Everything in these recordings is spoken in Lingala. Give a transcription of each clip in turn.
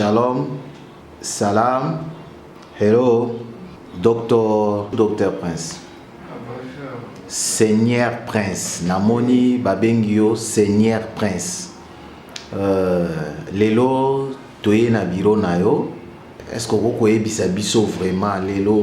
Shalom, salam, hello, docteur, docteur Prince. Seigneur Prince, namoni babengio Seigneur Prince. Euh, lelo toye na biro na yo. Est-ce que vous pouvez biso vraiment lelo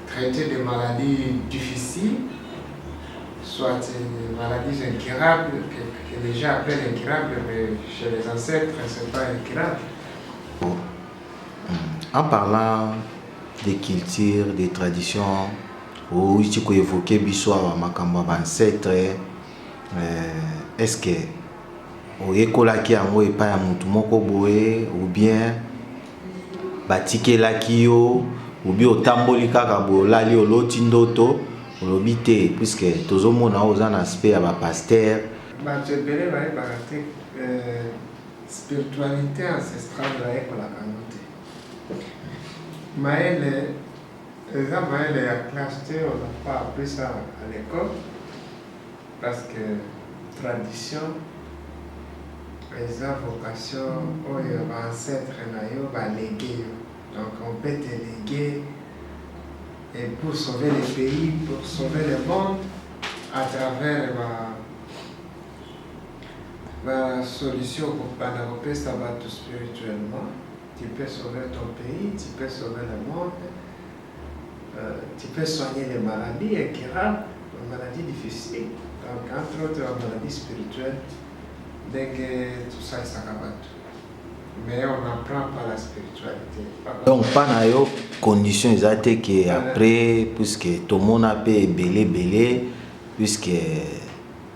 Traite des maladies difficiles, soit des maladies incurables, que, que les gens appellent incurables, mais chez les ancêtres, c'est pas incurable. En parlant des cultures, des traditions, outi koevoke biso awa makambo ya bancetre est-ce que oyekolaki yango epai ya motu moko boye ou bien batikelaki yo obi otamboli kaka boye olali oloti ndoto olobi te puiske tozomona oyo oza na aspect ya bapaster bato ebele bayebaka te euh, spiritualité ancestrale bayekolaka yango te mayele eza mayele ya classe te oza pa apesa à l'école Parce que tradition eza vocation oyo ba ancetres na yo ba legue yo. Donc on peut te leguer et pour sauver le pays, pour sauver le monde à travers ba ba solution kokobanda kopesa bato spirituellement tu peux sauver ton pays tu peux sauver le monde tu peux soigner les maladies incurables, les maladies difficiles, donc entre autres la maladie spirituelle, ndenge tosalisaka bato mais on n'apprend pas la spiritualité. Donc pas na yo condition eza te que après puisque tomona mpe ebele ebele puisque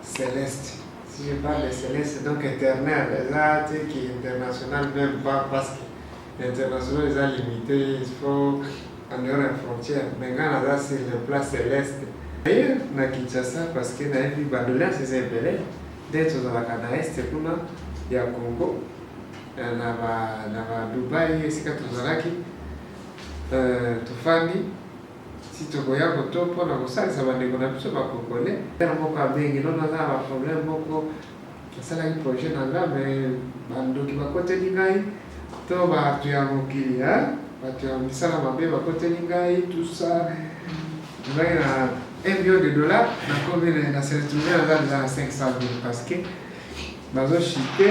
Celeste si je parle de Celeste donc éternel eza te ki international même pas parce que international eza limité il faut en dehors ya frontière mais nga naza sur le plat Celeste d'ailleurs na Kinshasa parce que nayebi ba doléance eza ebele nde tozalaka na est kuna ya Congo na ba na ba Dubaï esika tozalaki tofandi Si tokoya koto mpo na kosalisa bandeko na biso ba congolais. Frère moko abengi no naza na ba problème moko nasalaki projet na nga mais ba ndoki bakoteli ngai to batu ya mokili hein batu ya misala mabe bakoteli ngai tout ça ngai na 1 million de dollars nakomi na se retrouver naza deja na 500 000 parce que bazo chite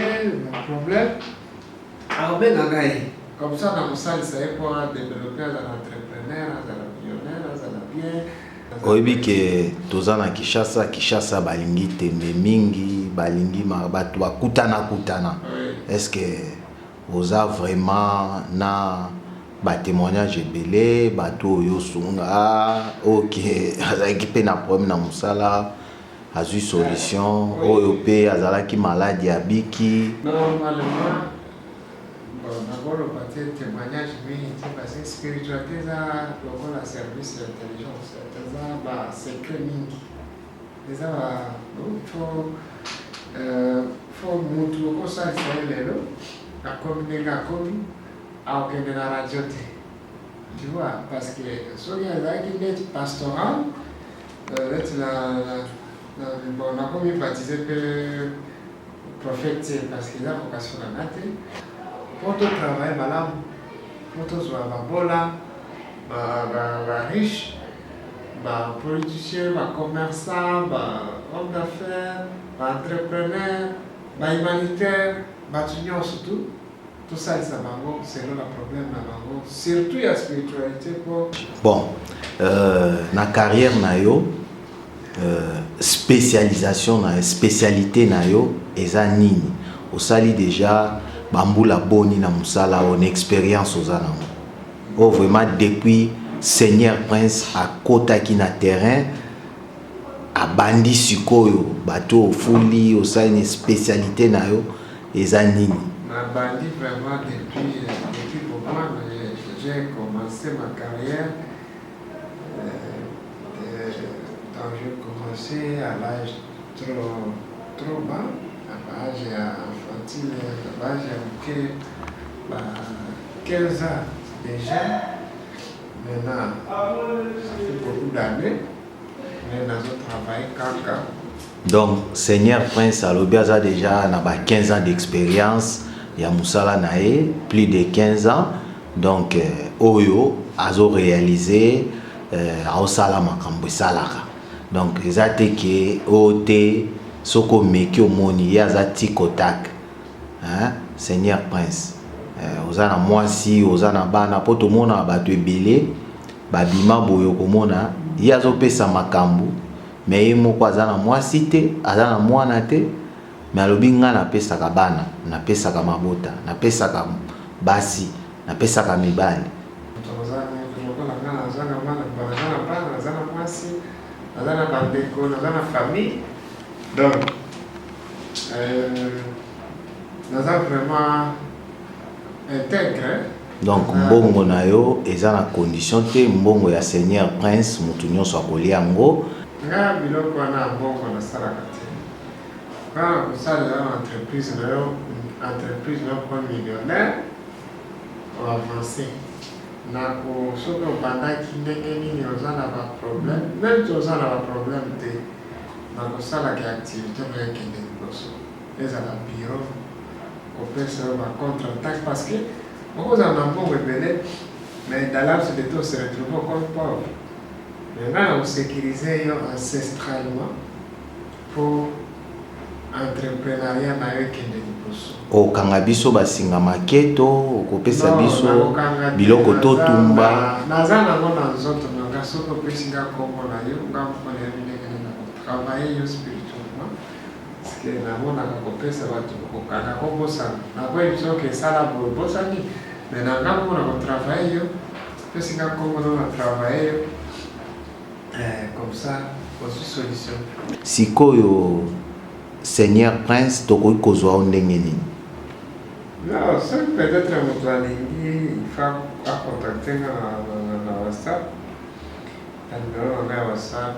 ba problème Akobenga ngai. Comme ça nakosalisa ye mpo a developpe azala entrepreneur azala millionnaire azala bien oyebi ke toza na kinshasa kinshasa balingi tembe mingi balingi bato bakutanakutana est ce que oza vraiment na batémoignage ebele bato oyo osunga oyo ke azalaki mpe na problème na mosala azui solution oyo pe azalaki maladi abiki Normalement, bon, nakoloba te temoignage mingi te parce que spiritualité eza lokola service ya intelligence eza ba secret mingi eza ba fo fo mutu okosalisa ye lelo akomi ndenge akomi akokende na radio te tu vois parce que soki azalaki ndeti pastoral Neti na na bon na ko mi baptiser pe prophète te parce que eza vocation na nga te. Po to travailler malamu, po tozwa babola, ba ba ba riche, ba politiciens, ba commerçants, ba hommes d'affaires, ba entrepreneurs, ba humanitaires, batu nionso tout. Tosalisa bango selon na problème na bango surtout ya spiritualité po bon euh, na carrière na yo euh, spécialisation na spécialité na yo eza nini osali déjà bambula boni na mosala oyo na expérience oza nango oyo oh, vraiment depuis seigneur prince akotaki na terrain abandi sikoyo bato ofuli osali na spécialité na yo eza nini. Na bandi vraiment depuis depuis pourquoi j'ai commence ma carrière donc je commence à l'âge trop trop bas na ba âge ya enfantine na ba âge ya moke ba 15 ans déjà maintenant ça fait beaucoup d'années Mais nazo travailler kaka. Donc Seigneur Prince alobi aza déjà na ba 15 ans d'expérience ya musala na ye, plus de 15 ans. Donc euh, oyo azo réaliser euh, aosala makambo esalaka. Donc eza te ke oyo te soki omeki omoni ye aza tik au tak. Hein? Seigneur Prince. Euh, oza na mwasi, oza na bana po tomona bato ebele Ba bima boye okomona ye azo pesa makambu mais ye moko aza na mwasi te aza na mwana te mais alobi nga na pesaka bana na pesaka mabota na pesaka basi na pesaka mibali. Mutu akoza na mutu lokola nga na za na mwana na za na bana na za na mwasi na za na ba ndeko na za na famille donc euh na za vraiment integre. Donc mbongo na yo eza na condition te mbongo ya seigneur prince mutu nionso akolia yango. Nga biloko wana ya mbongo nasalaka te bana kosalela na entreprise na yo entreprise na okoma millionnaire oavance nako soki obandaki ndenge nini oza na baproblème meme ti oza na baproblème te nakosalaka activité oyo ekende liboso Ezala biro kopesa yo ba contre attaque parce que okozala na mbongo ebele mais dans l'absence de tout se retrouver comme pauvre mais ngai nakosécurise yo ancestralement pour entreprenariat na yo ekende liboso okanga biso basinga maketo okopesa biso biloko totumba naza nango na nzoto na nga soki opesi nga nkombo na yo nga moko nayebi ndenge nini nakotravaille yo spirituellement Parceque namonaka kopesa batu kokoka nako bosana nako emission ke sala boye obosani mais na nga moko nako travailler yo opesi nga kombo no na travailler yo eh, comme ça ozwi solution sikoyo seigneur prince tokoki kozwa yo ndenge nini non soki peut-être moto alingi fa acontacte nga na whatsapp na numero na nga ya whatsapp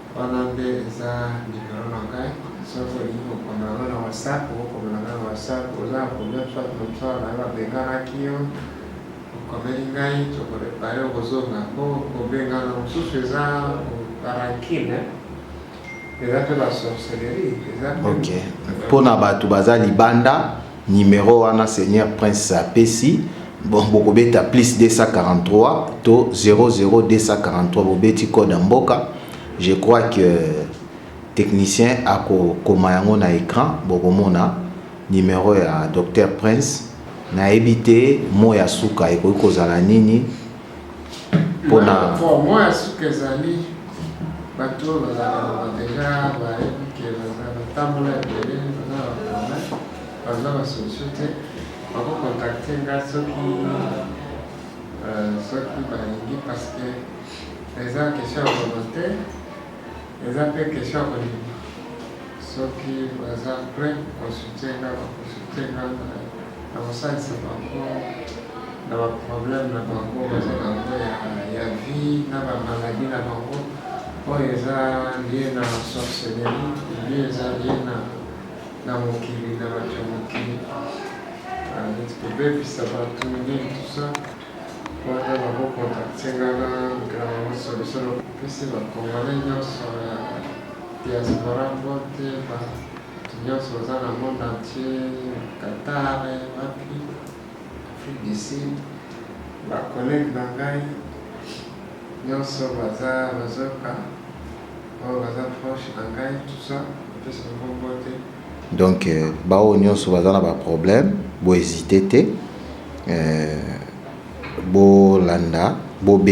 Wana nde eza numero na ngai soki olingi kokoma yango na whatsapp okoma na ngai na whatsapp oza na problème soit moto na yo babenganaki yo okomeli ngai tokorepare okozonga mpo kobengana mosusu eza parankine eza mpe basorcellerie eza ok mpo na bato baza libanda Numero wana seigneur prince apesi bon bokobeta plus 243 to 00243 bobeti code ya mboka je crois que technicien akokoma yango na écran bokomona numero ya docteur prince nayebi te mo ya suka ekoki kozala nini mpona mwa ya suka ezali bato oyo bazalaka na badeja bayebi ke batambola ebele baza baprome baza basolution te bakokontakte nga soki euh, soki balingi parce que eza question ya volonté Eza pe question ya kolinga soki baza pret ko soutien nga ba ko soutien nga na kosalisa bango na ba problème na bango baza bango ya vie na ba maladie na bango oyo eza lie na sorcellerie lie eza lie na na mokili na bato ya mokili neti kobebisa bato nini tusa Wana ba ko contacter nga na Grand Solution na pesi ba congolais nionso ya diaspora mbote, batu nionso baza na monde entier, Qatar wapi, Afrique du Sud, ba collègues na ngai nionso baza bazoka oyo baza proche na ngai tout ça, napesi bango mbote. Donc baoyo nionso baza na ba problème bo hesite te bolanda bobe